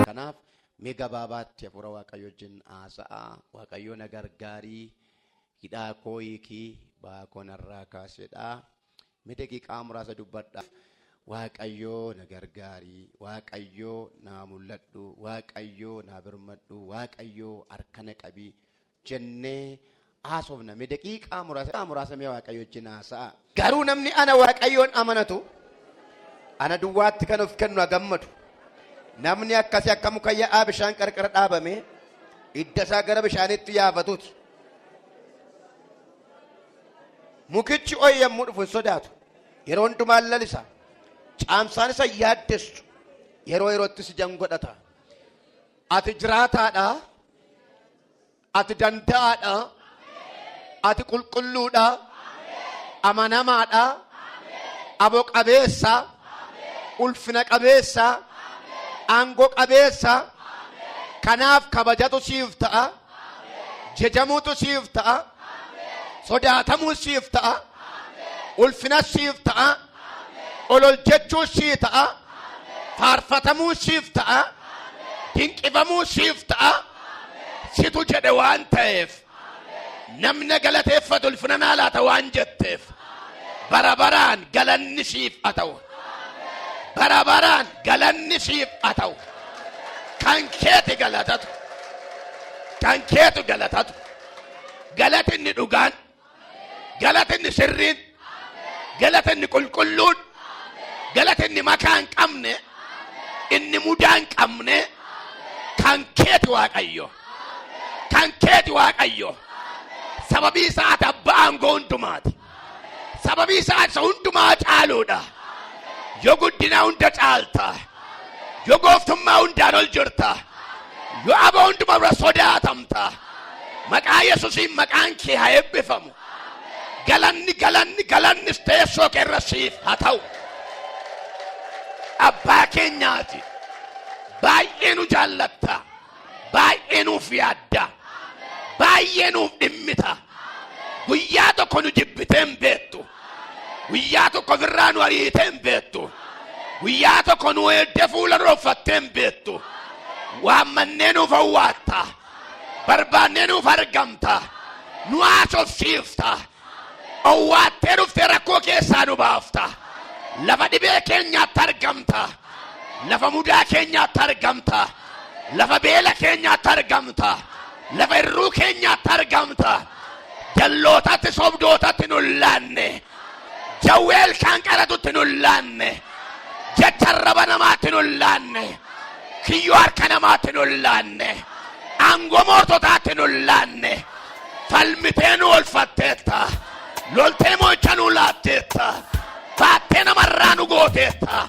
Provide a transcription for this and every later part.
Kanaaf mee gabaabaatti hafuura waaqayyo wajjin haasa'a waaqayyo na gargaarii hidhaa koo hiikii ba'aa koo narraa kaasedha Me daqiqaa muraasa dubbadha. Waaqayyoo na gargaari, Waaqayyoo naa mul'adhu, Waaqayyoo naa birmadhu, Waaqayyoo harka na qabi jennee haasofna. Me daqiiqaa muraasa muraasa mee Waaqayyo wajjin haasa'a. Garuu namni ana Waaqayyoon amanatu ana duwwaatti kan of kennu haa gammadu. Namni akkasii akka muka yaa'aa bishaan qarqara dhaabamee hidda isaa gara bishaaniitti yaafatuuti. Mukichi ho'i yommuu dhufu hin sodaatu. Yeroo hundumaan lalisa. Caamsaan isa yaaddessu. Yeroo yeroottis ijaan godhata. Ati jiraataadha. Ati danda'aadha. Ati qulqulluudha. Amanamaadha. Aboo qabeessa. Ulfina qabeessa. Aangoo qabeessa. Kanaaf kabajatu siif ta'a. Jajamuutu siif ta'a. Sodaatamuun siif ta'a. Ulfinas siif ta'a. Olol jechuun sii ta'a. Faarfatamuun siif ta'a. Dinqifamuun siif ta'a. Situ jedhe waan ta'eef. Namni galateeffatu ulfina naa laata waan jetteef. Bara baraan galanni siif haa ta'u. bara baraan galanni siif haa ta'u kan keeti galatatu kan keetu galatatu galatinni dhugaan galatinni sirriin galatinni qulqulluun galatinni makaa hin qabne inni mudaa hin qabne kan keeti waaqayyo kan keeti waaqayyo sababii isaa ati abbaa aangoo hundumaati Sababii isaa isa hundumaa caaluudha. Yoo guddinaa hunda caalta. Yoo gooftummaa hundaan ol jirta. Yoo aboo hundumaa irra sodaatamta. Maqaa Yesuusiin maqaan kee haa eebbifamu. Galanni galanni galannis teessoo kee irra siif haa ta'u. Abbaa keenyaati. Baay'ee nu jaallatta. Baay'ee nuuf yaadda. Baay'ee nuuf dhimmita. Guyyaa tokko nu jibbitee hin beektu. Guyyaa tokko ofirraa nu ariitee hin beektu. Guyyaa tokko nu eegdee fuula nu dhoffattee hin beektu. Waammannee nuuf hawwaatta. Barbaannee nuuf argamta. Nu haasofsiifta. Owwaattee dhuftee rakkoo keessaa nu baafta. Lafa dhibee keenyaatti argamta. Lafa mudaa keenyaatti argamta. Lafa beela keenyaatti argamta. Lafa irruu keenyaatti argamta. Jallootatti sobdootatti nu laanne. Jawwee ilkaan qaratutti nu laanne. Jecha arraba namaatti nu laanne. Kiyyoo harka namaatti nu laanne. Aangoo moototaatti nu laanne. falmitee nu olfatteetta loltee mo'icha nu laatteetta baattee namarraa nu gooteetta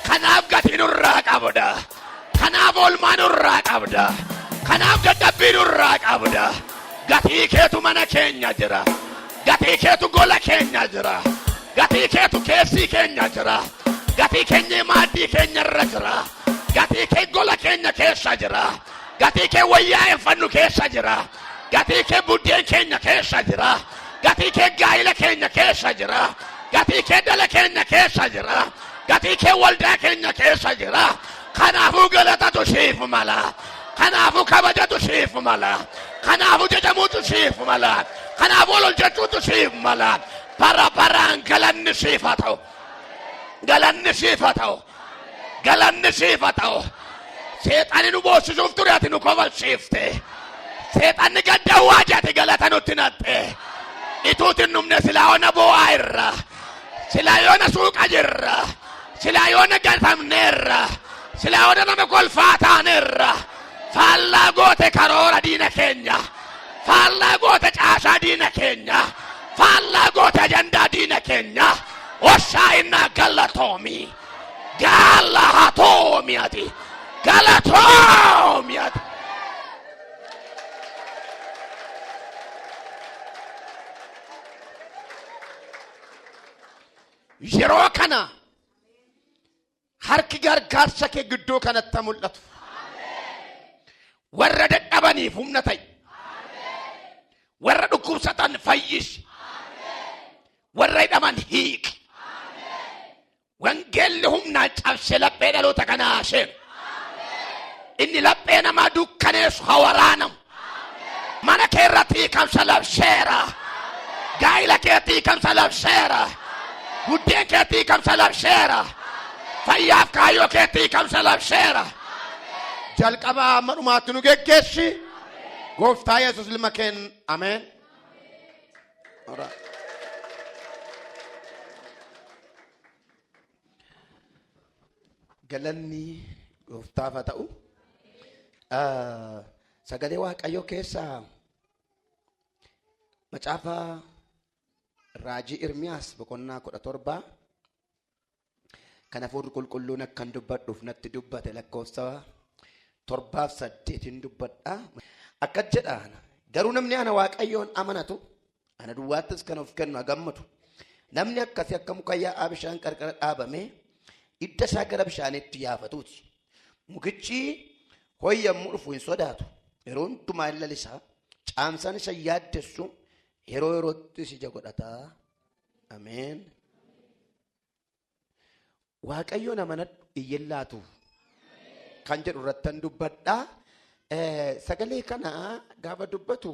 kanaaf gatii nurraa qabda kanaaf oolmaa nurraa qabda kanaaf dadhabbii nurraa qabda gatii keetu mana keenya jira gatii keetu gola keenya jira gatii keetu keessii keenya jira gatii keenya maaddii keenya irra jira gatii kee gola keenya keessa jira gatii kee wayyaa uffannu keessa jira Gatii kee buddeen keenya keessa jira. Gatii kee gaa'ila keenya keessa jira. Gatii kee dhala keenya keessa jira. Gatii kee waldaa keenya keessa jira. Kanaafuu galatatu siif mala. Kanaafuu kabajatu siif mala. Kanaafuu jajamuutu siif mala. Kanaafuu ol hojjechuutu siif mala. Bara baraan galanni siif haa ta'u. Galanni siif haa ta'u. Galanni siif haa ta'u. Seexanni nu boossisuuf ture ati nu kofalchiifte. Seexanni gad dawwaa jedhate galata nutti naqxe. Ituuti hin dhumne silaa yoona boo'aa irra. Silaa yoona suuqa jirra. Silaa yoona gatamneerra. Silaa yoona nama kolfaa taaneerra. Faallaa goote karoora diina keenya. Faallaa goote caasaa diina keenya. Faallaa goote ajandaa diina keenya. Hoshaa'innaa galatoomi. Gaala haa toomi ati. Galatoomi ati. Yeroo kana Harki gargaarsa kee gidduu kanatti haa mul'atu. Warra dadhabaniif humna ta'i. Warra dhukkubsatan fayyisi. Warra hidhaman hiiki. Wangeelli humnaan cabsee laphee dhaloota kanaa seenu. Inni laphee namaa dukkaneessu haa waraanamu. Mana kee irratti hiikamsa labseera. Gaa'ila keetti hiikamsa labseera. Buddeen keetti hiikamsa labseera. Fayyaaf kaayyoo keetti hiikamsa labseera. Jalqabaa amma dhumaatti nu geggeessi. Gooftaa Yesuus ilma keen ameen. All right. Galanni gooftaaf haa ta'u. Ah, Sagalee Waaqayyoo keessaa macaafa raajii Irmiyaas boqonnaa kudha torbaa kan hafuurri qulqulluun akkan dubbadhuuf natti dubbate lakkoofsa torbaaf saddeetiin dubbadha. Akkas jedha garuu namni ana Waaqayyoon amanatu Ana duwwaattis kan of kennu haa gammadu. Namni akkasii akka muka yaa'aa bishaan qarqara dhaabamee idda isaa gara bishaaniitti yaafatuuti. Mukichi ho'i yommuu dhufu hin sodaatu. Yeroo hundumaa hin lalisaa. Caamsaan isa yaaddessu yeroo yeroottis ija godhataa. Ameen. Waaqayyoon amanadhu iyyin laatu kan jedhu irrattan dubbadha. Eh, Sagalee kana gaafa dubbatu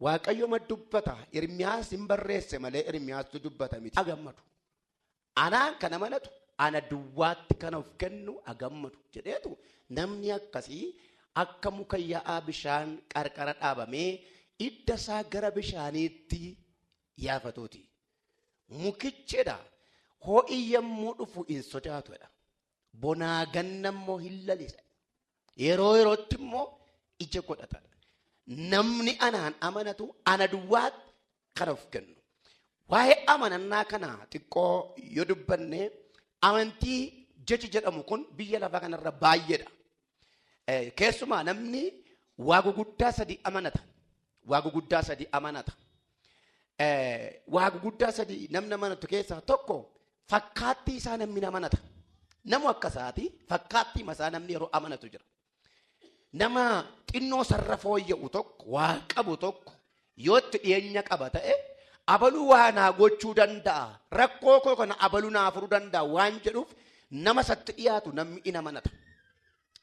Waaqayyooma dubbata. Irmiyaas hin barreesse malee Irmiyaastu dubbata miti. Agammadu. Anaan kan amanatu ana duwwaatti kan of kennu agammadu jedheetu namni akkasii akka muka yaa'aa bishaan qarqara dhaabamee idda isaa gara bishaaniitti yaafatuuti. Mukichedha ho'i yommuu dhufu hin sodaatudha. Bonaa ganna immoo hin lalisa. Yeroo yerootti immoo ija godhatadha. Namni anaan amanatu ana duwwaatti kan of kennu. Waa'ee amanannaa kana xiqqoo yoo dubbanne amantii jechi jedhamu kun biyya lafaa kanarra baay'eedha. Eh, Keessumaa namni waa guguddaa sadi amanata. Waa guguddaa sadi amanata. Eh, Waa guguddaa sadi namni amanatu keessaa tokko fakkaattii isaa namni amanata. Namu akka isaati fakkaattii isaa namni yeroo amanatu jira. Nama xinnoo sarara fooyya'u tokko, waa qabu tokko, Yoo itti dhiyeenya qaba ta'e abaluu waa naa gochuu danda'a rakkoo koo kana abaluu naa furuu danda'a waan jedhuuf nama isatti dhiyaatu namni in amanata.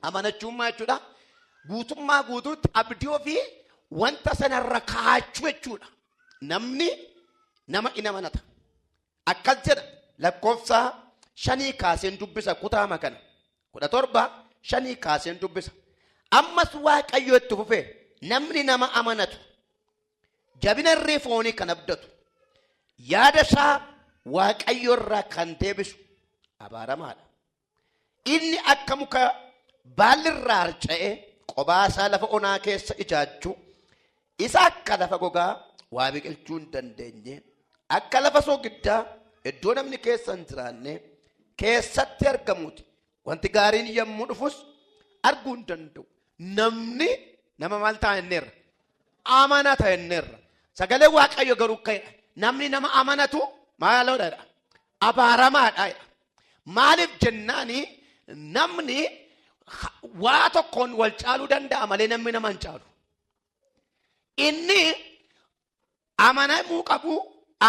Amanachuummaa jechuudha guutummaa guutuutti abdii ofii wanta sanarra kaachuu jechuudha. Namni nama in amanata. Akkas jedha lakkoofsa shanii kaaseen dubbisa kutaama kana. kudha torba shanii kaaseen dubbisa. Ammas Waaqayyo itti fufee namni nama amanatu jabina irree foonii kan abdatu yaada isaa Waaqayyo irraa kan deebisu abaaramaadha. Inni akka muka baalli irraa harca'e qobaa isaa lafa onaa keessa ijaajju, isa akka lafa gogaa waa biqilchuu hin dandeenye, akka lafa soogiddaa iddoo namni keessa hin jiraanne keessatti argamuuti. Wanti gaariin yommuu dhufus arguu hin danda'u. Namni nama maal ta'a inneerra? Amanaa ta'a inneerra. Sagalee Waaqayyo garuu ka'edha. Namni nama amanatu maaloodha? Abaaramaadha. Maaliif jennaan namni waa tokkoon wal caaluu danda'a malee namni nama hin caalu. Inni amanamuu qabu,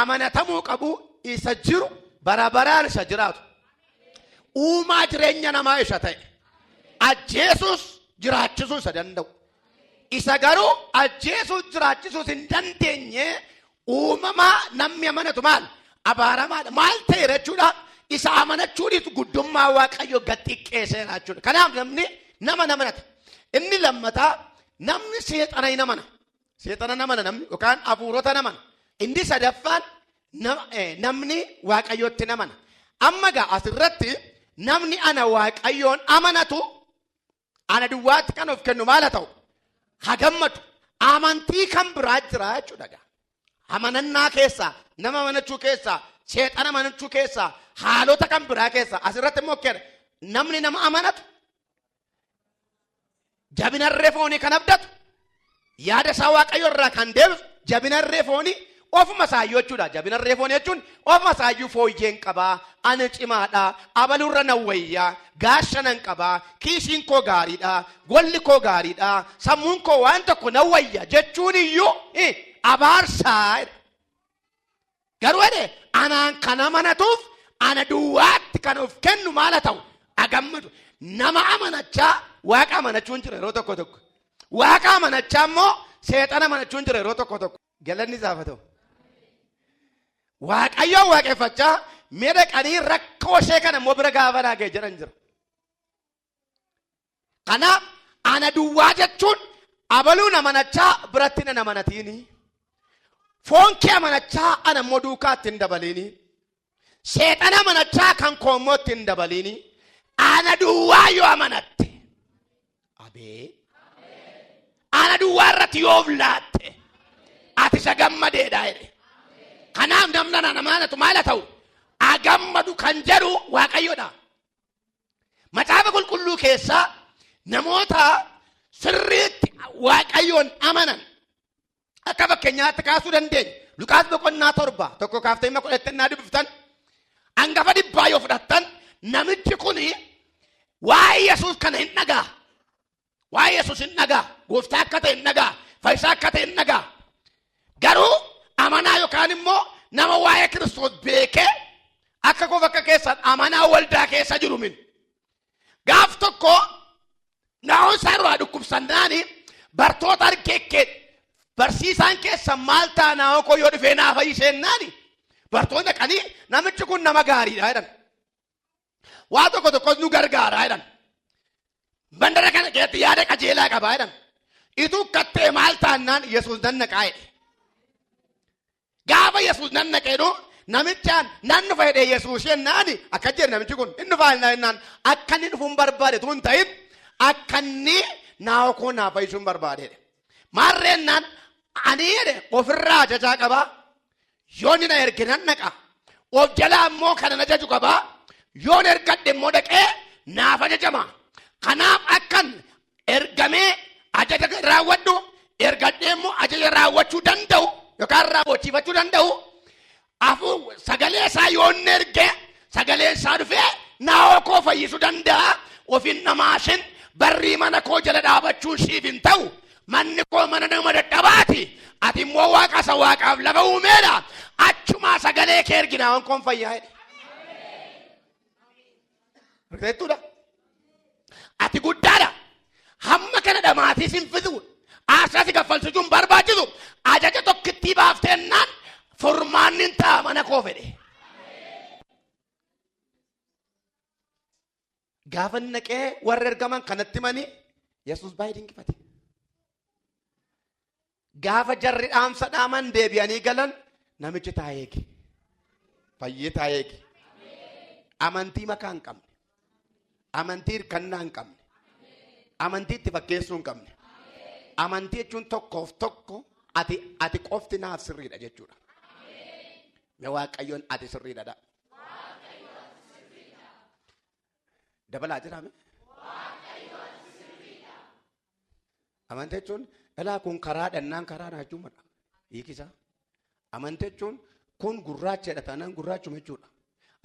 amanatamuu qabu isa jiru bara baraan isa jiraatu. Uumaa jireenya namaa isa ta'e. Ajjeesuus jiraachisuu isa danda'u. Isa garuu ajjeesuus jiraachisuus hin dandeenye Uumamaa namni amanatu maal? Abaaramaadha. Maal ta'eera jechuudha? Isa amanachuunis guddummaa Waaqayyo gad xiqqeesseera jechuudha. Kanaaf namni nama hin amanata. Inni lammataa namni seexana hin amana. Seexana hin amana namni yookaan hafuurota hin amana. Inni sadaffaan na- eh, namni Waaqayyootti hin amana. Amma gaa asirratti namni ana Waaqayyoon amanatu Ana duwwaatti kan of kennu maal haa ta'u? Haa gammadu. Amantii kan biraa jira jechuudha gaa. Amanannaa keessaa, nama amanachuu keessaa, seexana amanachuu keessaa, haalota kan biraa keessaa. Asirratti immoo kenna. Namni nama amanatu jabina irree foonii kan abdatu Yaada isaa Waaqayyo irraa kan deebisu jabina irree foonii ofuma isaayyuu jechuudha. Jabina irree foonii jechuun ofuma isaayyuu fooyyeen qabaa, ani cimaadha, abaluurra nan wayyaa, gaasha nan qabaa, kiisiin koo gaariidha, golli koo gaariidha, sammuun koo waan tokko nan wayya jechuun iyyuu abaarsaa. Garuu jedhe anaan kan amanatuuf ana duwwaatti kan of kennu maal haa ta'u agammadu nama amanachaa waaqa amanachuun jira yeroo tokko tokko waaqa amanachaa immoo seexana amanachuun jira yeroo tokko tokko galanni isaaf haa ta'u. Waaqayyoon waaqeffachaa mee dhaqanii rakkoo ishee kana immoo bira gaafa dhaagee jedhan jira. Kanaaf ana duwwaa jechuun abaluun amanachaa biratti nan amanatiini. Foon kee amanachaa ana immoo duukaatti hin dabaliini. Seexana amanachaa kan koo immoo itti hin dabaliini. Ana duwwaa yoo amanatte. Abee. Ana duwwaa irratti yoo of laatte. Ati isa gammadeedha jedhe. Kanaaf namni anaan amanatu maal haa ta'u? Agammadu kan jedhu Waaqayyodha. Macaafa qulqulluu keessaa namoota sirriitti waaqayyoon amanan akka fakkeenyaatti kaasuu dandeenya. Luqaas boqonnaa torba tokko kaaftee hima kudhatti innaa dubbiftan hangafa dhibbaa yoo fudhattan namichi kun waa'ee Yesuus kana hin dhagaa. Waa'ee Yesuus hin dhagaa. Gooftaa akka ta'e hin dhagaa. Fayyisaa akka ta'e hin dhagaa. Garuu amanaa yookaan immoo nama waa'ee Kiristoos beekee akka koof akka keessan amanaa waldaa keessa jiru min. Gaaf tokko naa'oon isaa irraa dhukkubsannaan bartoota argeekkee barsiisaan keessa maal ta'a naa'oo koo yoo dhufee naa fayyiseennaani bartoota qanii namichi kun nama gaariidha jedhan. Waa tokko tokkos nu gargaara jedhan. Mandara kana keessatti yaada qajeelaa qaba jedhan. Ituu kattee maal taannaan Yesuus nan naqaa jedhe. Gaafa Yesuus nan naqeedhu namichaan nan dhufa jedhee Yesuus jennaan akka jedhe namichi kun hin dhufaa jennaan jennaan akka inni dhufuun barbaade tun ta'in akka inni naawoo koo naa fayyisuun barbaade jedhe. Maarreennaan ani jedhe ofirraa ajajaa qabaa Yoo inni na erge nan dhaqa. Of jalaa immoo kana na jaju qaba. Yoon ergadhe immoo dhaqee naaf ajajama. Kanaaf akkan ergamee ajaja raawwadhu ergadhee immoo ajaja raawwachuu danda'u yookaan raawwachiifachuu danda'u afuu sagalee isaa yoon erge Sagaleen isaa dhufee naawoo koo fayyisu danda'a ofin dhamaasin barrii mana koo jala dhaabachuun siif hin ta'u manni koo mana nama dadhabaati ati immoo waaqa isa waaqaaf lafa uumeedha achumaa sagalee kee ergi naawon koon fayyaa jedhe. Rifeettuudha. Ati guddaadha. Hamma kana dhamaatii sin fixu. Aarsaa si kaffalsiisuun barbaachisu. Ajaja tokkittii baaftee ennaan furmaanni hin ta'a mana koo fedhe. Gaafa inni dhaqee warra ergaman kanatti manii Yesuus baay'ee dinqifate. Gaafa jarri dhaamsa dhaaman deebi'anii galan namichi taa'ee eege. Fayyee taa'ee eege. Amantii makaa hin qabne. Amantii hirkannaa hin qabne. Amantii itti fakkeessuu hin qabne. Amantii jechuun tokkoof tokko ati ati qofti naaf sirriidha jechuudha. Mee waaqayyoon ati sirriidha dha. Dabalaa jiraame. Amantii jechuun ilaa kun karaa dhannaan karaa naachumadha. Hiikisaa. Amantii jechuun kun gurraachadha taanaan gurraachuma jechuudha.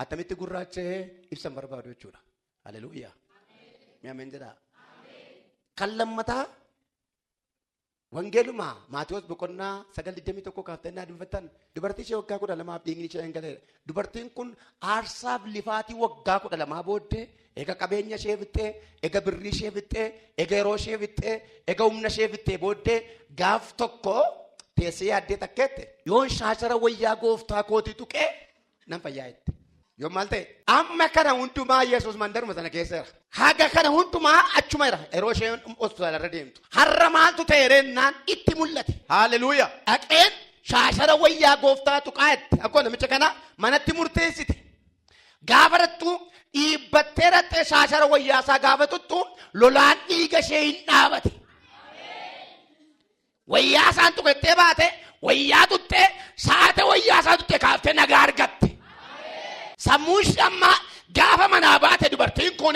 Attamitti gurraachee ibsan barbaadu jechuudha. Haleluuyaa. Mi'a meen jedhaa. Kan lammataa wangeeluma Maatiyoos boqonnaa sagal digdamii tokko kaaftannaa dubbatan dubartii ishee waggaa kudha lamaaf dhiigni ishee hin galee Dubartiin kun aarsaaf lifaatii waggaa kudha lamaa booddee ega qabeenya ishee fixxee, ega birrii ishee fixxee, ega yeroo ishee fixxee, ega humna ishee fixxee booddee gaaf tokko teessee yaaddee takkeette. Yoon shaashara wayyaa gooftaa kootii tuqee nan fayyaa jette. Yoo maal ta'e? Amma kana hundumaa Yesuus mandaruma sana keessa jira. Haga kana hundumaa achuma irra yeroo isheen hospitaala irra deemtu. Har'a maaltu ta'e reennaan itti mul'ate. Haaleluuya. Dhaqeen shaashara wayyaa gooftaa tuqaa itti akkoo namicha kana manatti murteessite. Gaafa rattu dhiibbattee rattee shaashara wayyaa isaa gaafa tuttu lolaan dhiiga ishee hin dhaabate. Wayyaa isaan tuqettee baate, wayyaa tuttee, saate wayyaa isaa tutte kaaftee nagaa argatte. Sammuu ishee ammaa gaafa manaa baate dubartiin kun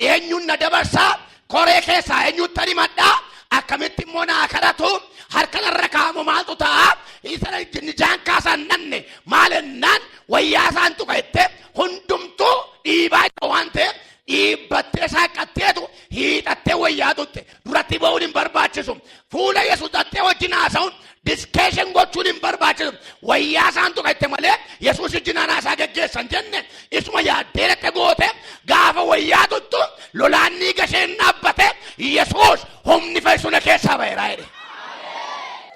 eenyuun na dabarsaa koree keessaa eenyuutti ani madhaa akkamitti immoo naa kadhatu harka narra kaa'amu maaltu ta'a isa nijaan kaasaan dhanne maal ennaan wayyaa isaan tuqette hundumtuu dhiibaa jira waan ta'eef dhiibbattee saaqqatteetu hiixattee wayyaa tutte duratti ba'uun hin barbaachisu. Fuula Yesuus dhattee wajjin haasa'uun diskeeshin gochuun hin barbaachisu. Wayyaa isaan tuqatte malee Yesuus wajjin haasaa geggeessan jenne isuma yaaddee dhatte goote gaafa wayyaa tuttu lolaan ni gasheen dhaabbate Yesuus humni fayyisuu na keessaa ba'eera jedhe.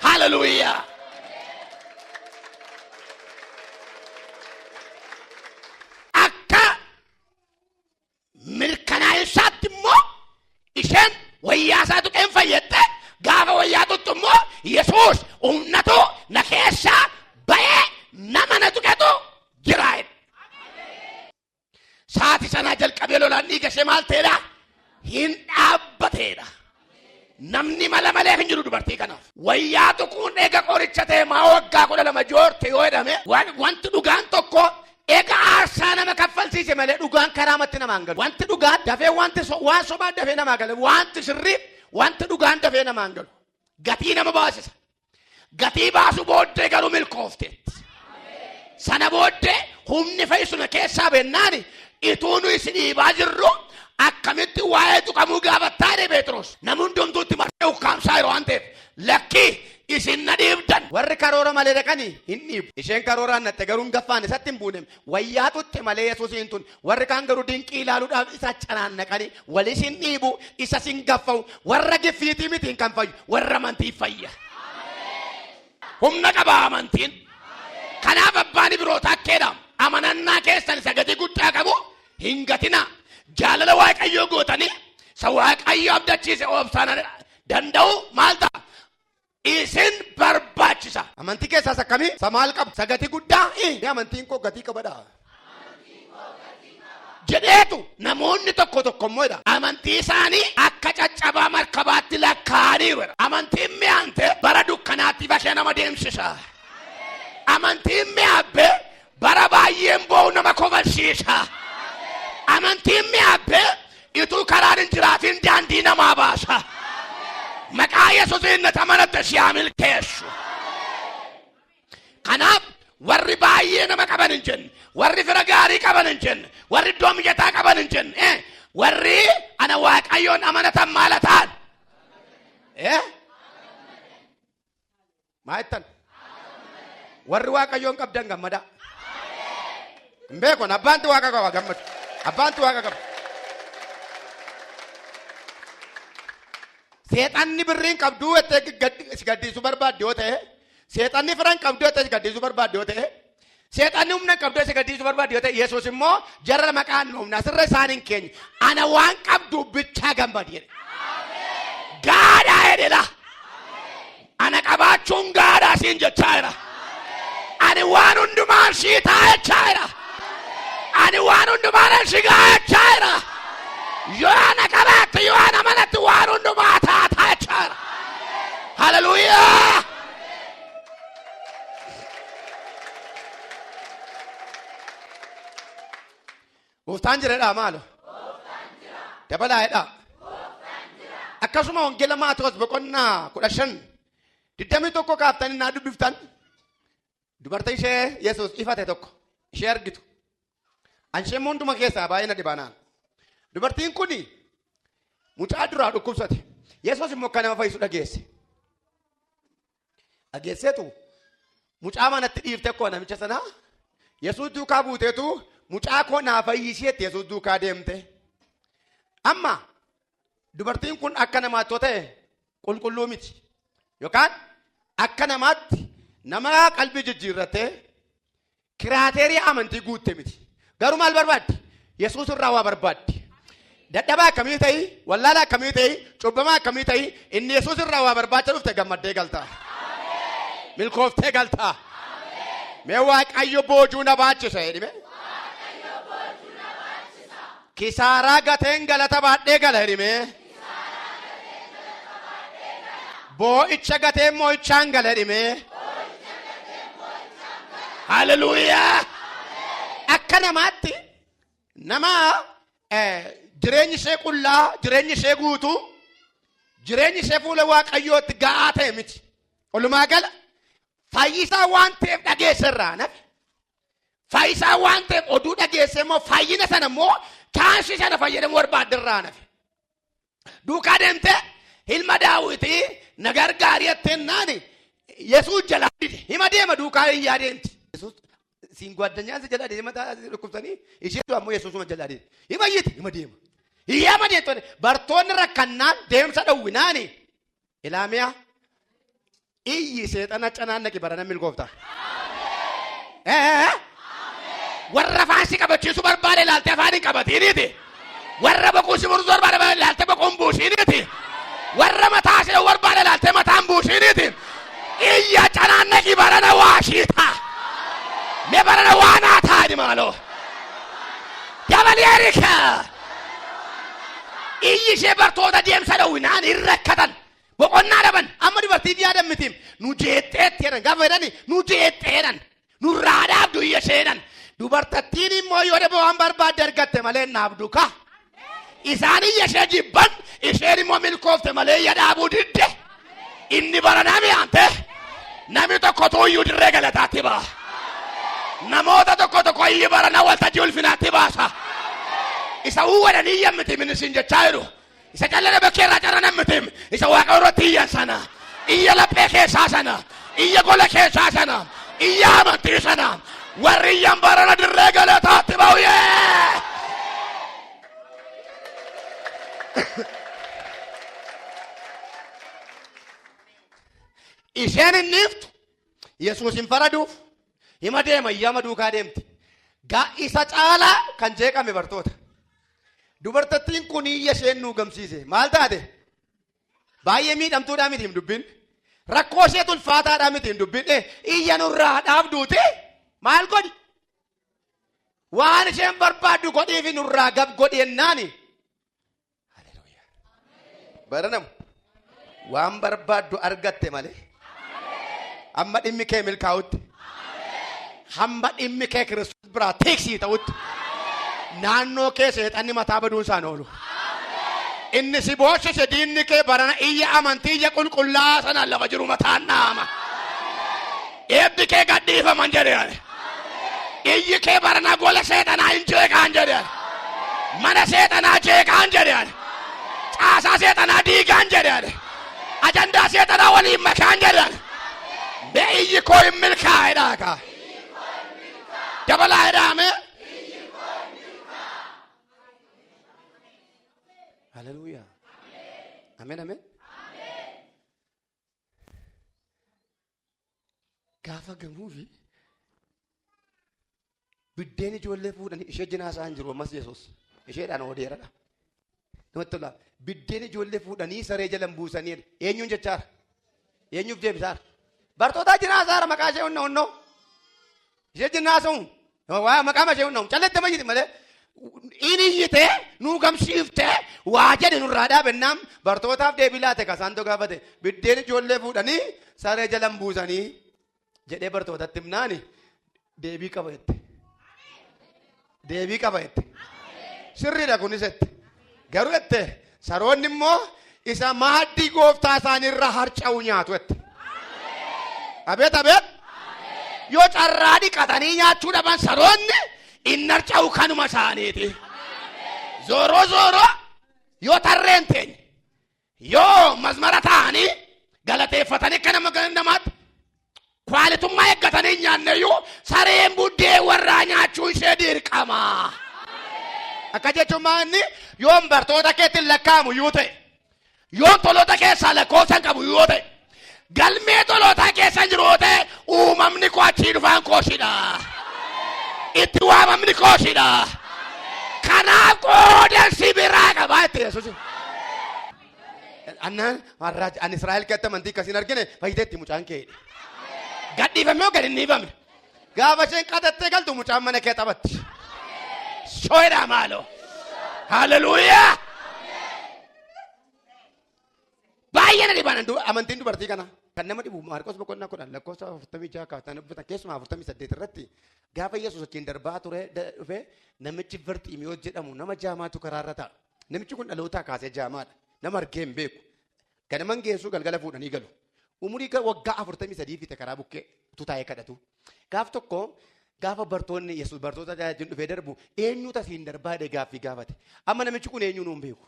Hallelujah. mirkanaa'insaatti immoo isheen wayyaasaa tuqeen fayyadde gaafa wayyaa tuttu immoo yesuus humnatu na keessaa ba'ee nama na tuqetu jira jedhe. Saati sanaa jalqabee lolaan dhiiga ishee maal ta'eedha? Hin dhaabbateedha. Namni mala malee hin jiru dubartii kanaaf. Wayyaa tuquun eega qoricha ta'e maa waggaa kudha lama joorte yoo jedhame wan- wanti dhugaan tokko eega aarsaa nama kaffalsiise malee dhugaan karaa matti namaan galu. Wanti dhugaa dafee wanti so- waan sobaa dafee namaa gala. Wanti sirrii wanti dhugaan dafee namaan galu. Gatii nama baasisa. Gatii baasuu booddee garuu milkoofteetti. Sana booddee humni fayyisuna keessaa bennaani ituu nu isin dhiibaa jirru akkamitti waa'ee tuqamuu gaafattaa jedhe Pheexiroos. Namni hundumtuutti marsee ukkaamsaa yeroo waan ta'eef lakkii isin na dhiibdan. Warri karoora malee dhaqanii hin dhiibu. Isheen karooraan natte garuu hin gaffaane isatti hin buune. Wayyaa tutte malee Yesuusiin tun Warri kaan garuu dinqii ilaaluudhaaf isa canaannaqanii wal isin dhiibu, isa sin gaffa'u, warra giffiitii mitiin kan fayyu, warra amantii fayya. Humna qaba amantiin. Kanaaf abbaan Ibirootaa akka jedhamu amanannaa keessan isa gatii guddaa qabu hin gatinaa. Jaalala Waaqayyoo gootanii isa Waaqayyo abdachiise obsaan danda'u maal ta'a? isin barbaachisa. Amantii keessaas akkamii? Isa maal qabu? Isa gatii guddaa? Ni amantiin koo gatii qabadha. jedheetu namoonni tokko tokko immoo jedha amantii isaanii akka caccabaa markabaatti lakkaa'aniiru jedha. Amantiin mi'aante bara dukkanaatti bakee nama deemsisa. Amantiin mi'aabbee Bara baay'een boo'u nama kofalsiisa. Amantiin mi'aabbee ituu karaan hin jiraatiin daandii namaa baasa. Maqaa Yesuusiin nata manatte si haa milkeessu. Kanaaf warri baay'ee nama qaban hin jenne, warri fira gaarii qaban hin jenne, warri iddoo mijataa qaban hin jenne, eh, warri ana waaqayyoon amanatan maala ta'an. Eh? Maa jettan? Warri waaqayyoon qabdan gammadaa. Hin beekon abbaanti waaqa qaba gammadu. Abbaanti waaqa qaba. Seexanni birriin qabduu jettee gaddi- si gaddiisuu barbaadde yoo ta'e, seexanni firan qabduu jettee si gaddiisuu barbaadde yoo ta'e, Seexanni humna qabdu isa gadhiisuu barbaadu yoo ta'e Yesuus immoo jarra maqaan dhoofna asirra isaan hin keenye ana waan qabdu bichaa gammadi jedhe. Gaadhaa jedhela. Ana qabaachuun gaadhaa siin jechaa jira. Ani waan hundumaa ishii taa'echaa jira. Ani waan hundumaa ishii gaa'echaa jira. Yoo ana qabaatte yoo ana manatti waan hundumaa taa'echaa jira. Hallelujah. Gooftaan jiradhaa maalo? Dabalaa jedhaa. Akkasuma wangeela Maatewos boqonnaa kudha shan digdamii tokko kaaftanii naa dubbiftan dubartii ishee Yesuus ifate tokko ishee argitu. An ishee hunduma keessaa baay'ee na dhibanaan. Dubartiin kun mucaa duraa dhukkubsate. Yesuus immoo akka nama fayyisu dhageesse. Dhageesseetu mucaa manatti dhiifte koo namicha sana Yesuus duukaa buuteetu mucaa koo naa fayyisheetti Yesuus duukaa deemte. Amma dubartiin kun akka namaatti yoo ta'e qulqulluu miti. Yookaan akka namaatti nama qalbii jijjiirrattee Kiraateerii amantii guutte miti. Garuu maal barbaaddi? Yesuus irraa waa barbaaddi. Dadhabaa akkamii ta'i? Wallaalaa akkamii ta'i? Cubbamaa akkamii ta'i? Inni Yesuus irraa waa barbaacha dhufte gammaddee galtaa. Milkooftee galtaa. Mee waaqayyo boojuu na baachisa jedhime. Kisaaraa gateen galata baadhee gala jedhime. Boo'icha gateen moo'ichaan gala dhimee. Haleluuyaa! Akka namaatti nama eh, jireenyi ishee qullaa, jireenyi ishee guutuu, jireenyi ishee fuula waaqayyootti ga'aa ta'e miti. Walumaa gala fayyisaa waan ta'eef dhageesserraa nafi. Fayyisaa waan ta'eef oduu dhageessee immoo fayyina sana immoo chaansi sana fayyadamuu barbaadde irraa nafe. Duukaa deemtee ilma daawwitii na gargaari jettee naani Yesuus jalaa dide hima deema duukaa hin yaadeemti. Yesuus siin gwaddanyaan si jalaa dide hima taa'aa si dhukkubsanii isheetu ammoo Yesuusuma jalaa dide hima iyyiti hima deema. Hiyyaama deemtonni bartoonni rakkannaan deemsa dhowwinaani Ilaamiya iyyi seexana canaannaqi barana milkoofta. Ee warra afaan si qabachiisu barbaade ilaalte afaan hin qabatiiniiti. Warra boquu si mursu barbaade ilaalte boquun buusiiniiti. Warra mataa si dha'u barbaade ilaalte mataan buusiiniiti. Iyya canaannaqi barana waa shiita. Me barana waa naa taa'ani maaloo. Dabalii erika. iyyi ishee bartoota deemsa dhowwinaan hin rakkatan boqonnaa dhaban amma dubartiif yaadan mitiim nu jeexxeetti jedhan gaafa jedhani nu jeexxeedhan nurraa dhaabdu iyya isheedhan dubartattiin immoo yoo dhaba waan barbaadde argatte malee hin dhaabdu ka isaan iyya ishee jibban isheen immoo milkoofte malee iyya dhaabuu didde Inni bara nami aante nami tokko tuuyyuu dirree galataatti ba'a. Namoota tokko tokko inni bara na waltajjii ulfinaatti baasa. Isa uwwada ni yammiti minisiin jechaa jiru. Isa callana bakkee irraa carra nammitim. Isa waaqa irratti iyyan sana. Iyya laphee keessaa sana. Iyya gola keessaa sana. Iyya amantii sana. Warri iyyan barana dirree galataatti ba'u yee. Isheen hin dhiiftu. Yesuus hin faraduuf. Hima deema iyyama duukaa deemti. Gaa isa caalaa kan jeeqame bartoota. Dubartattiin kun iyya isheen nu gamsiise. Maal taate? Baay'ee miidhamtuudhaa miti hin dubbin. Rakkoo ishee tulfaataadhaa miti hin dubbin. Iyya nurraa dhaabduuti. Maal godhi? Waan isheen barbaaddu godhiifi nurraa gab godhi jennaani. Haleluuyaa. Baranamu. Waan barbaaddu argatte malee. Amma dhimmi kee milkaa'utti. Hamma dhimmi kee Kiristoos biraa tiksii ta'utti. Naannoo kee seexanni mataa baduun isaan oolu. Inni si booshise diinni kee barana iyya amantii iyya qulqullaa'aa sanaan lafa jiru mataan dhaama. Eebbi kee gad dhiifaman jedhe ani. Iyyi kee barana gola seexanaa hin jeeqaan jedhe ani. Mana seexanaa jeeqaan jedhe ani. Caasaa seexanaa diigaan jedhe ani. Ajandaa seexanaa waliin makaan jedhe ani. Mee iyyi koo hin milkaa'e dhaagaa. Dabalaa jedhaame. Haleluuyaa. Ameen ameen. Gaafa gamuufi biddeen ijoollee fuudhanii ishee jinaasaa hin jiru ammas Yesuus isheedhaan oodeeradha. Namatti tola. Biddeen ijoollee fuudhanii saree jalan buusanii eenyuun jechaara? Eenyuuf deebisaara? Bartootaa jinaasaara maqaa ishee onnoo onnoo. Ishee jennaa haasa'u. Waa maqaa mashee hundaa'u. Callatti amma iyyiti malee. Inni iyyitee nuu gamsiiftee waa jedhe nurraa dhaabennaan bartootaaf deebii laate kasaan too gaafate biddeen ijoollee fuudhanii saree jalan buusanii jedhee bartootatti himnaani deebii qaba jette. deebii qaba jette. Sirriidha kunis jette. Garuu jette saroonni immoo isa maaddii gooftaa isaanii irra harca'u nyaatu jette. Abeet abeet. Yoo carraa dhiqatanii nyaachuu dhaban saroonni inni harca'u kanuma isaaniiti. Zooroo zooroo yoo tarreen teenye Yoo mazmara taa'anii galateeffatanii akka nama gana namaatti kwaalitummaa eeggatanii hin nyaanneyyuu sareen buddeen warraa nyaachuu ishee dirqama. Akka jechuun maa inni yoon bartoota keetti lakkaa'amu yoo ta'e yoon toloota keessaa lakkoofsan qabu yoo ta'e Galmee tolootaa keessa hin jiru yoo ta'e uumamni koo achii dhufaan kooshidha. Itti waamamni kooshidha. Kanaaf qooda si biraa qabaa itti yesuus. Annaan har'aa an Israa'el keessatti amantii akkasiin argine fayyiteetti mucaan kee. Gadhiifame yoo gad hin dhiifamne. Gaafa isheen qadattee galtu mucaan mana kee taphatti. Shooyidhaa maaloo. Haleluuyaa. Baay'ee na dhibaan du- amantiin dubartii kana kan nama dhibu Maarqos boqonnaa kudhan lakkoofsa afurtamii jaha kaaftan dubbatan keessumaa afurtamii saddeet irratti gaafa Yesuus achiin darbaa ture da- dhufe namichi Barxiimiyoo jedhamu nama jaamaatu karaarra ta'a. Namichi kun dhalootaa kaasee jaamaadha. Nama argee hin beeku. Ganaman geessuu galgala fuudhanii galu. Umurii ga- waggaa afurtamii sadii fite karaa bukkee utuu taa'ee kadhatu. Gaaf tokko gaafa bartoonni Yesuus bartoota tajaajilu dhufee darbu eenyuutu asiin darbaa jedhee gaaffii gaafate. Amma namichi kun eenyuu nuun beeku.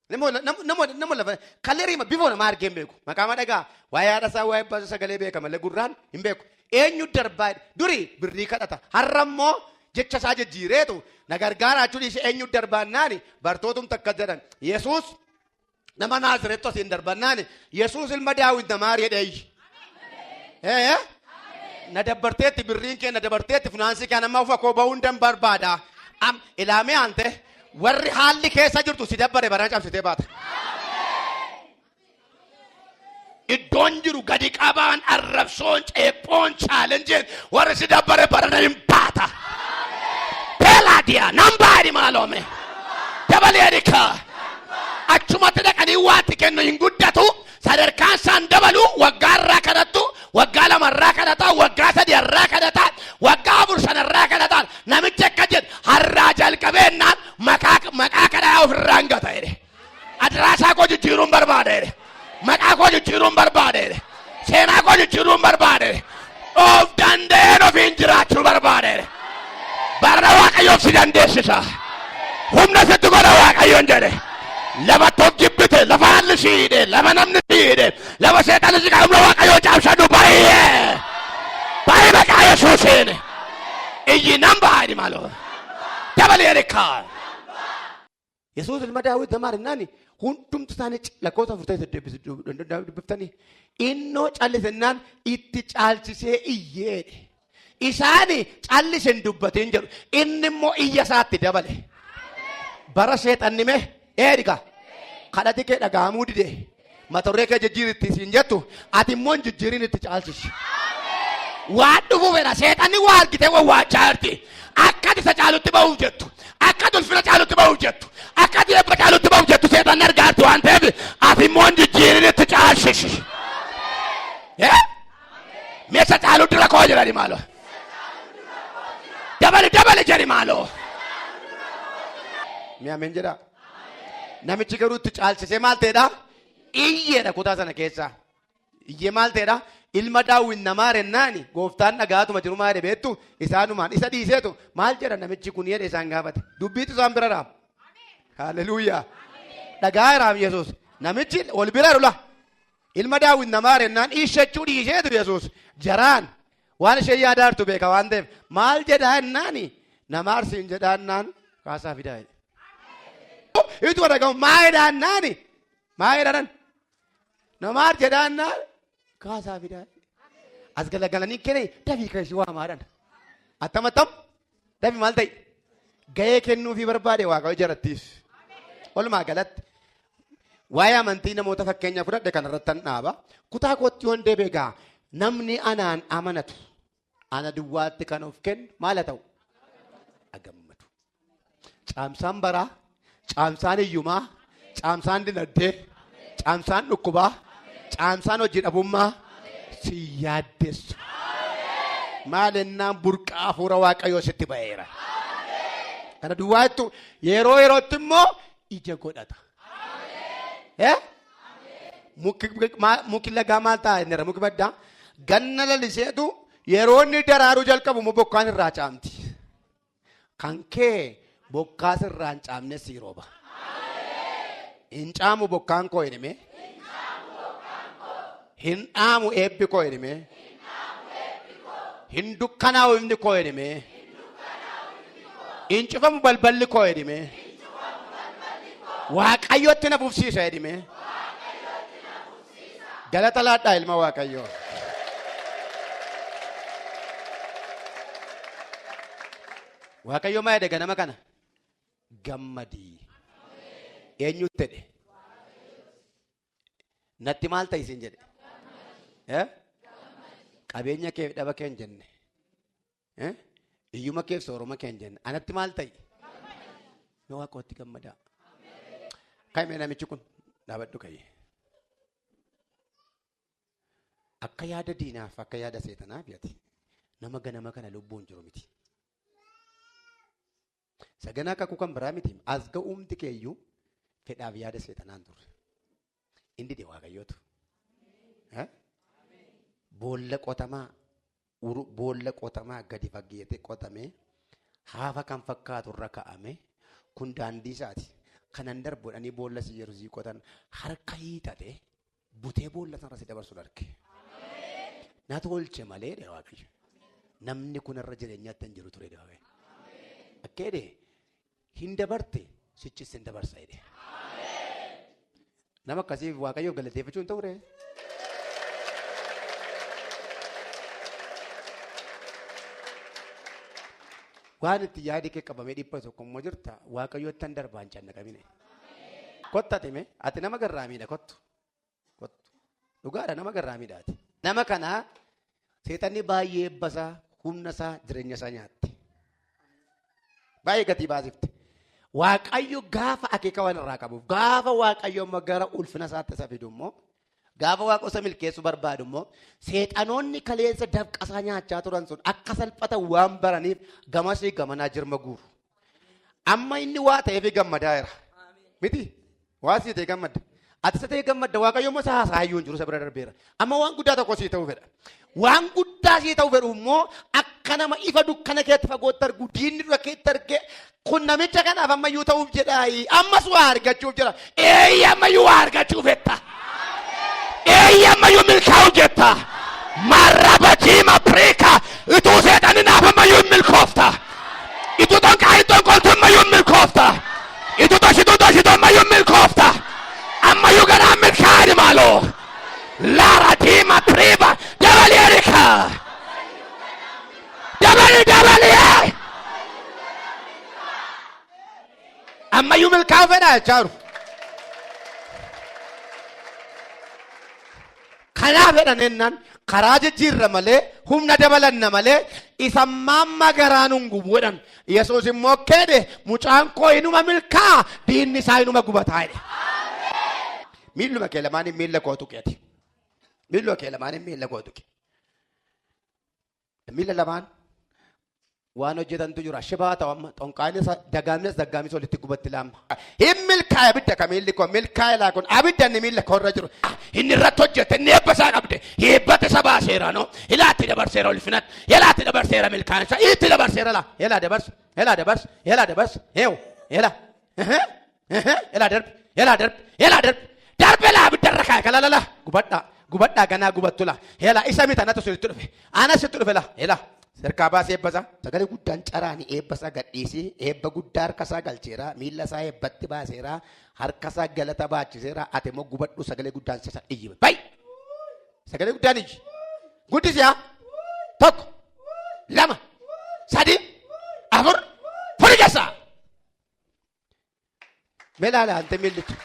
Nama wala- nama- nama- nama lafa kalerii ma- bifoo namaa argee hin beeku. Maqaa ma dhagaa waa'ee haadha isaa waa'ee abbaa isaa sagalee beeka malee gurraan hin beeku. Eenyu darbaa durii birrii kadhata. Har'a immoo jecha isaa jijjiireetu na gargaaraa jechuun ishee eenyu darbaannaani bartootum takka jedhan. Yesuus nama naazireetti asiin darbannaani Yesuus ilma daawwit namaa jedheeyyi. Ee na dabarteetti birriin kee na dabarteetti finaansii kee nama ufa koo ba'uu hin barbaada. Am ilaamee aantee Warri haalli keessa jirtu si dabbare barana cabsitee baata. Iddoon jiru gadi qabaan arrabsoon ceephoon chaalenjeen warri si dabbare barana hin baata. Beelaadiyaa nan baari maaloome. Dabalee rikaa. Achumatti dhaqanii waanti kennu hin guddatu sadarkaan isaan dabalu waggaa irraa kadhattu waggaa lama irraa kadhataa waggaa sadi irraa kadhataa waggaa afur shan irraa kadhataa namichi akka jedhe harraa jalqabeennaan maqaa maqaa kadhaa ofirraa hin gata jedhe adraasaa koo jijjiiruun barbaada jedhe maqaa koo jijjiiruun barbaada jedhe seenaa koo jijjiiruun barbaada jedhe of danda'een ofiin jiraachuu barbaade barra waaqayyoof si dandeessisa humna sitti godha waaqayyoon jedhe lafa tokko jibbite lafa haalli si hidhe lafa namni si hidhe lafa seexanni si qabu waaqayyoo caabsadhu baay'ee baay'ee maqaa yesuusiin iyyi nan baay'ee maaloo dabalee rikaa Yesuus ilma daawwit zamaan innaan hundumti isaanii lakkoofsa afur ta'e saddeet dubbiftanii innoo callise innaan itti caalchisee iyyeedhe. Isaani callise hin dubbatiin jedhu inni immoo iyya isaatti dabale. Bara seexanni mee eedhiga kadhati kee dhagahamuu didee. Matorree kee jijjiiri itti siin jettu ati immoo hin jijjiirin itti caalchisi. Waan dhufu fedha seexanni waa argitee wawwaachaa jirti. Akka isa caalutti ba'uuf jettu. Akka ulfina caalutti ba'uuf jettu. Akka eebba caalutti ba'uuf jettu seexanni argaa jirti waan ta'eef ati immoo hin jijjiirin itti caalchisi. Eh? Mee isa caalu dura koo jedhani maaloo. Dabali dabali jedhi maaloo. Mee ameen jedhaa. Namichi garuu itti caalchisee maal ta'edha? Iyyeedha kutaa sana keessaa. Iyyee maal ta'edha? Ilma daawwin namaa rennaani gooftaan dhagaatuma jiru maal beektu isaanumaan isa dhiiseetu maal jedha namichi kun jedhe isaan gaafate. Dubbiitu isaan bira raam. Haaleluyyaa. Dhagaa raam Yesuus. Namichi ol bira lula. Ilma Daawit na maari jennaan iishachuu dhiiseetu Yesuus jaraan waan isheen yaadaa jirtu beeka waan ta'eef maal jedhaa jennaani na maarsi hin jedhaa jennaan kaasaa fidaa jedhe. Itu dhagahu maa jedhaa jennaani maa jedhaan na maar jedhaa jennaan kaasaa fidaa jedhe. As galagalanii kene dafii keessi waamaadhaan. Attam attam Dafi maal ta'e? Gahee kennuufii barbaade waaqayyo jarattiif. Walumaa galatti waa'ee amantii namoota fakkeenya fudhadhe kanarratti nan dhaaba. Kutaa kootti yoon deebi'e gaa namni anaan amanatu ana duwwaatti kan of kennu maal haa ta'u? Agammadu. Caamsaan baraa Caamsaan hiyyumaa, caamsaan dinagdee, caamsaan dhukkubaa, caamsaan hojii dhabummaa si yaaddessa. Maal ennaan burqaa hafuura waaqayyoo sitti ba'eera. Kana duwwaa jettu yeroo yerootti immoo ija godhata. Eh? Muki maa- muki lagaa maal ta'a inni irra muki baddaa ganna laliseetu yeroo inni daraaruu jalqabu immoo bokkaan irraa caamti. Kan kee bokkaa sirraa hin caamne sii rooba. Hin caamu bokkaan koo hin himee. Hin dhaamu eebbi koo hin himee. Hin dukkanaa'u ifni koo hin himee. Hin cufamu balballi koo hin himee. Waaqayyotti na fufsiisa hin himee. Galata laadhaa ilma Waaqayyoo. Waaqayyo maa jedhe ganama kana? Gammadii. Eenyutti jedhe? Natti maal ta'i isin jedhe? Eh? Qabeenya kee dhaba kee hin jenne. Eh? Iyyuma keef sooroma keen jenna. Anatti maal ta'i? Yoo waaqootti gammadaa. Kaimee namichi kun dhaabadhu ka'ee. Akka yaada diinaaf akka yaada seexanaaf yaati. Nama ganama kana lubbuun jiru miti. Saganaa kakuu kan biraa miti. As ga'uumti keeyyuu fedhaaf yaada seexanaan turre. Inni dide waaqayyootu. Eh? Boolla qotamaa uru- boolla qotamaa gadi fageete qotamee haafa kan fakkaatu irra ka'ame kun daandii isaati. Kanan darbu jedhanii boolla si yeroo sii qotan harka hiixate butee boolla sanarra si dabarsuun arge. Na tolche malee dha waaqayyo. Namni kun irra jireenyaatti hin jiru ture dha waaqayyo. Akka jedhe hin dabarte sichis hin dabarsa jedhe. Nama akkasiif waaqayyoof galateeffachuun ta'u dha. Waan itti yaadi kee qabamee dhipha tokko immoo jirta waaqayyoottan darbaan cannaqamine. Kotta time ati nama garraamiidha kottu. Kottu. Dhugaadha nama garraamiidha ati. Nama kana seexanni baay'ee ebbasaa humna isaa jireenya isaa nyaatte. Baay'ee gatii baasifte. Waaqayyo gaafa akeeka waan irraa qabuuf gaafa waaqayyo amma gara ulfina isaatti isa fidu immoo Gaafa waaqosa milkeessu barbaadu immoo seexanoonni kaleessa dafqasaa nyaachaa turan sun akka salphatan waan baraniif gamasii gamanaa jirma guuru. Amma inni waa ta'eef gammadaa jira. Miti waa sii ta'e gammadda. Ati isa ta'e gammadda waaqayyo immoo isa haasaayyuu hin jiru isa bira darbeera. Amma waan guddaa tokko sii ta'uu fedha. Waan guddaa sii ta'u fedhu immoo akka nama ifa dukkana keetti fagootti argu diinni dura keetti arge kun namicha kanaaf ammayyuu ta'uuf jedhaayi ammas waa argachuuf jira eeyyi ammayyuu waa argachuu fetta eeyyi ammayyuu milkaa'u jetta marraba jiima priika ituu seexanni naaf ammayyuu hin milkoofta ituu xonqaayin xonqooltu ammayyuu hin milkoofta ituu toshituu toshitu ammayyuu hin milkoofta ammayyuu ganaa milkaa'ani maaloo Lara Dima Priva Dabali Erika Dabali Dabali eh! Ammayyuu milkaa'uu fedha jechaa jiru. Kanaa fedhan jennaan karaa jijjiirra malee humna dabalanna malee isa mamma garaa nun gubu jedhan. Yesuus immoo keedhe mucaan koo inuma milkaa'a diinni isaa inuma gubataa jedhe. Miilluma kee lamaaniin miilla koo tuqi ati. Miilluma kee lamaaniin miilla koo tuqi. Miilla lamaan waan hojjetantu jira. Shibaa ta'u amma xonqaanis dagaamnes daggaamis walitti gubatti laamma. Hin milkaa'e abidda ka miilli koo milkaa'e laa kun abidda inni miilla koo irra jiru. Inni irratti hojjete inni eebba isaa qabde heebbata isa baaseera no ilaatti dabarseera ulfinatti yalaatti dabarseera milkaa'e isaa itti dabarseera laa yalaa dabarse yalaa dabarse yalaa dabarse heewu yalaa. Ehe, Elaa darbi, elaa darbi, elaa darbi. Darbi elaa abiddarra kaa'e kalalala. Gubadhaa, gubadhaa ganaa gubattu laa. Elaa isa miti anatu sinitti dhufe. Ana sitti dhufe laa. Elaa. Sirkaa baasee eebbasaa. Sagalee guddaan caraani eebbasaa gadhiisee eebba guddaa harkasaa galcheera miilla isaa eebbatti baaseera harkasaa galata baachiseera ati immoo gubadhu sagalee guddaan sisa iyyi bay sagalee guddaan iyyi guddisiyaa tokko lama sadii afur furi keessaa Mee laala hante miillicha.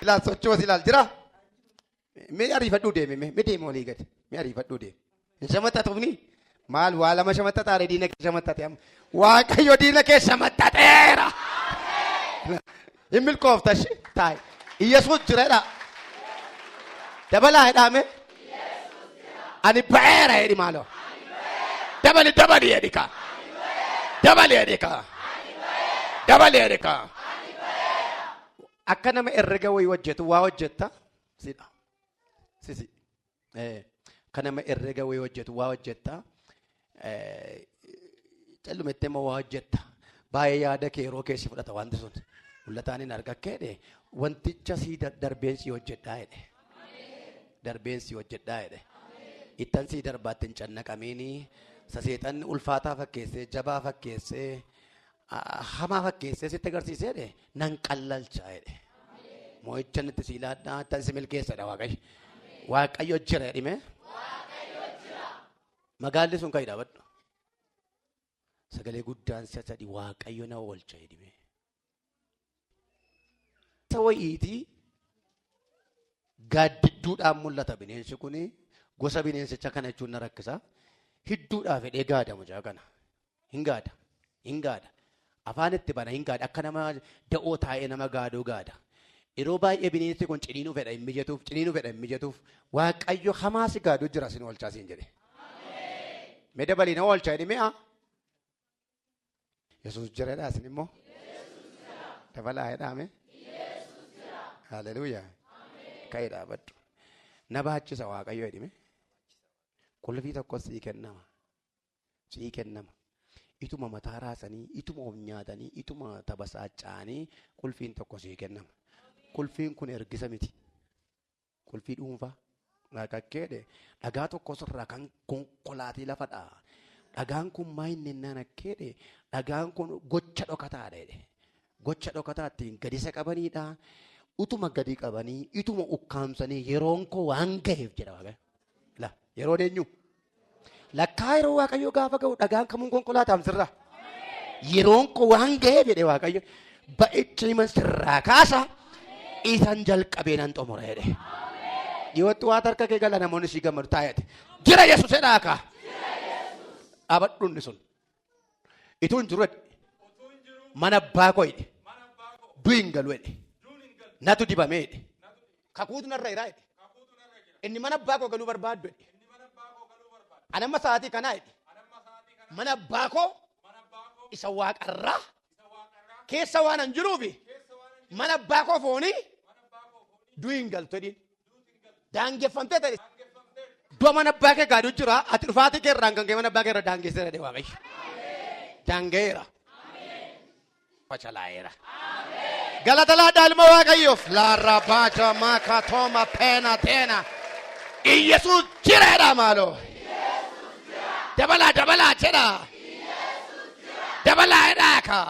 Ilaa sochoo si ilaal jira. Mee ariifadhuu deeme mee mee deeme olii gadi mee ariifadhuu deeme. Hin shamaxxatuufni maal waa lama shamaxxataare diina kee shamaxxate amma waaqayyo diina kee shamaxxateera. Hin milkoofta ishee taa'e. Iyyasuus jireedha. Dabalaa jedhaame. Ani ba'eera jedhi maaloo. Dabali dabali jedhi kaa. Dabali jedhi kaa. Dabali jedhi kaa. Akka nama herrega wayii hojjetu waa hojjetta. Sidha. Sisi. Kan nama herrega wayii hojjetu waa hojjetta. Callumettee immoo waa hojjetta. Baay'ee yaada kee yeroo keessi fudhata wanti sun. Mul'ataan hin argakkee jedhe wanticha sii darbeen sii hojjedhaa jedhe. Darbeen sii hojjedhaa jedhe. Ittan sii darbaatti hin cannaqamiini. Saseexanni ulfaataa fakkeessee jabaa fakkeessee hamaa fakkeessee sitti agarsiisee jedhe nan qallalcha jedhe. Moo'icha nutti si ilaadhaa tan si milkeessadha waaqayyo. Waaqayyo jira jedhime. Magaalli sun kan dhaabadhu. Sagalee guddaan si'a sadii waaqayyo na oolcha jedhime. Isa wayiiti gaaddidduudhaan mul'ata bineensi kun gosa bineensicha kana jechuun na rakkisa. Hidduudhaa fedhee gaada mucaa kana. Hin gaada. Hin gaada. Afaan itti bana hin gaada. Akka nama da'oo taa'ee nama gaaduu gaada. Yeroo baay'ee bineensi kun ciniinuu fedha hin mijatuuf, ciniinuu fedha hin mijatuuf. Waaqayyo hamaa si gaaduu jira sin oolchaa siin jedhe. Mee dabalii na oolchaa jedhi mi'a. Yesuus jira jedhaa isin immoo. Dabalaa jedhaame. Haleluuyaa. Ka'ee dhaabadhu. Na baachisa waaqayyo jedhime. Qulfii tokkos sii kennama. Sii kennama. Ituma mataa raasanii, ituma of nyaatanii, ituma tabasaacha'anii qulfiin tokko sii kennama. Qulfiin kun ergisa miti. Qulfii dhuunfaa. Dhaqaqqeedhe. Dhagaa tokkos irraa kan konkolaatee lafa dha'a. Dhagaan kun maa inni innaan akkeedhe dhagaan kun gocha dhokataadha jedhe. Gocha dhokataa ittiin gadisa qabaniidha. Utuma gadi qabanii ituma ukkaamsanii yeroon koo waan gaheef jedha waaqayyo. La yeroon eenyu? Lakkaa yeroo Waaqayyo gaafa ga'u dhagaan kamuun konkolaataan sirra. Yeroon koo waan ga'eef jedhe Waaqayyo ba'icha himan sirraa kaasa isan jalqabee nan xumura jedhe. Dhiyootti waan harka kee gala namoonni si gammadu taa'eeti. Jira Yesuus jedhaa kaa. Dhaabadhuunni sun. Ituu hin jiru jedhe. Mana abbaa koo jedhe. Du'i hin galu jedhe. Natu dibamee jedhe. Kakuutu narra jira jedhe. Inni mana abbaa koo galuu barbaaddu jedhe. Ani amma sa'aatii kanaa jedhe. Mana abbaa koo isa waaqarraa keessa waan hin jiruufi mana abbaa koo foonii du'i hin galtu jedhiin. Daangeffamtee ta'e. Iddoo mana abbaa kee gaaduu jira. Ati dhufaatii kee irraan kan kee mana abbaa kee irra daangeessee jedhe waaqayyo. Daanga'eera. Fashalaa'eera. Galata laadhaa ilma waaqayyoof. Laarraa baacha maaka tooma peena teena. Iyyasuus jireedha maaloo. Dabalaa dabalaa jedha. Dabalaa jedhaa kaa.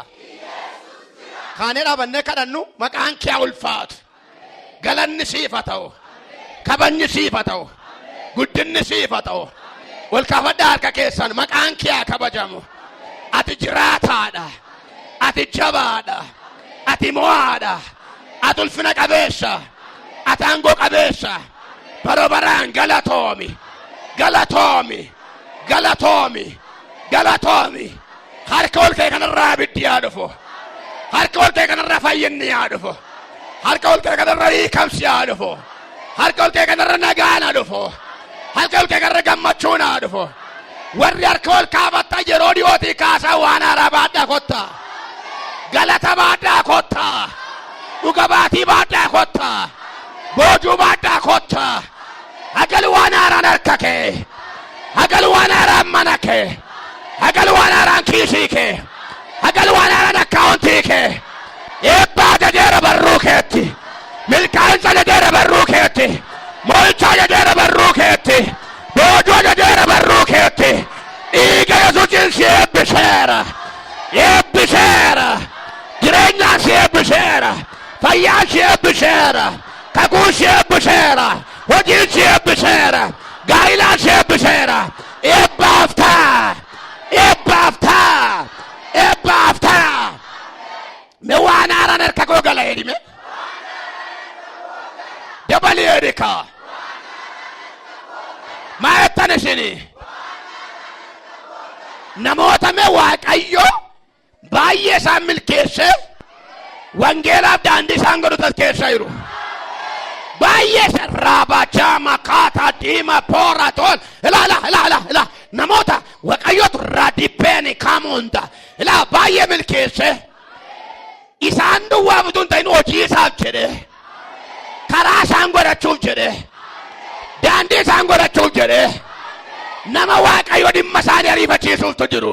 Kaanee dhaabannee kadhannu maqaan kee haa ulfaatu. galanni siif haa ta'u kabajni siif haa ta'u guddinni siif haa ta'u ol kaafadhaa harka keessan maqaan kee haa kabajamu ati jiraataadha ati jabaadha ati mo'aadha ati ulfina qabeessa ati aangoo qabeessa baroo baraan galatoomi galatoomi galatoomi galatoomi Harka ol ka'e kanarraa abiddi yaa dhufu. Harka ol ka'e kanarraa fayyinni yaa dhufu. Harka ol ka'e kanarraa hiikamsi yaa dhufu. Harka ol ka'e kanarra nagaan haa dhufu. Harka ol ka'e kanarra gammachuun haa dhufu. Warri harka ol kaafattan yeroo dhiyootii kaasaa waan haaraa baadhaa kottaa. Galata baadhaa kottaa. Dhuga baatii baadhaa kottaa. Boojuu baadhaa kottaa. Hagal waan haaraan harka kee. Hagal waan haaraan mana kee. Haqal waan haaraan kiisii kee. Haqal waan haaraan akkaawuntii kee. Eebbaa jadeera barruu keetti. Milkaa'insa jadeera barruu keetti. Mo'ichaa jadeera barruu keetti. Boojuu jadeera barruu keetti. Dhiiga Yesuusiin si eebbiseera. Eebbiseera. Jireenyaan si eebbiseera. Fayyaan si eebbiseera. Kakuun si eebbiseera. Hojiin si eebbiseera. Gaa'ilaa si eebbiseera. Eebbaaf ta'a! Eebbaaf ta'a! Eebbaaf ta'a! Me waan haaraan harka koo gala jedhime. Dabalii jedhi kaa. Maa jettan isinii? Namoota me Waaqayyo baay'ee isaan milkeesseef wangeelaaf daandii isaan godhu taskeessaa jiru. Baay'ee isa raabachaa makaataa diima poora toon ilaala ilaala ilaala namoota waaqayyootu raadipeeni kaamuunda ilaala baay'ee milkeessee isaan duwwaa utuu hin ta'in hojii isaaf jedhee. karaa isaan godhachuuf jedhee daandii isaan godhachuuf jedhee nama waaqayyo dhimma isaanii ariifachiisuuftu jiru.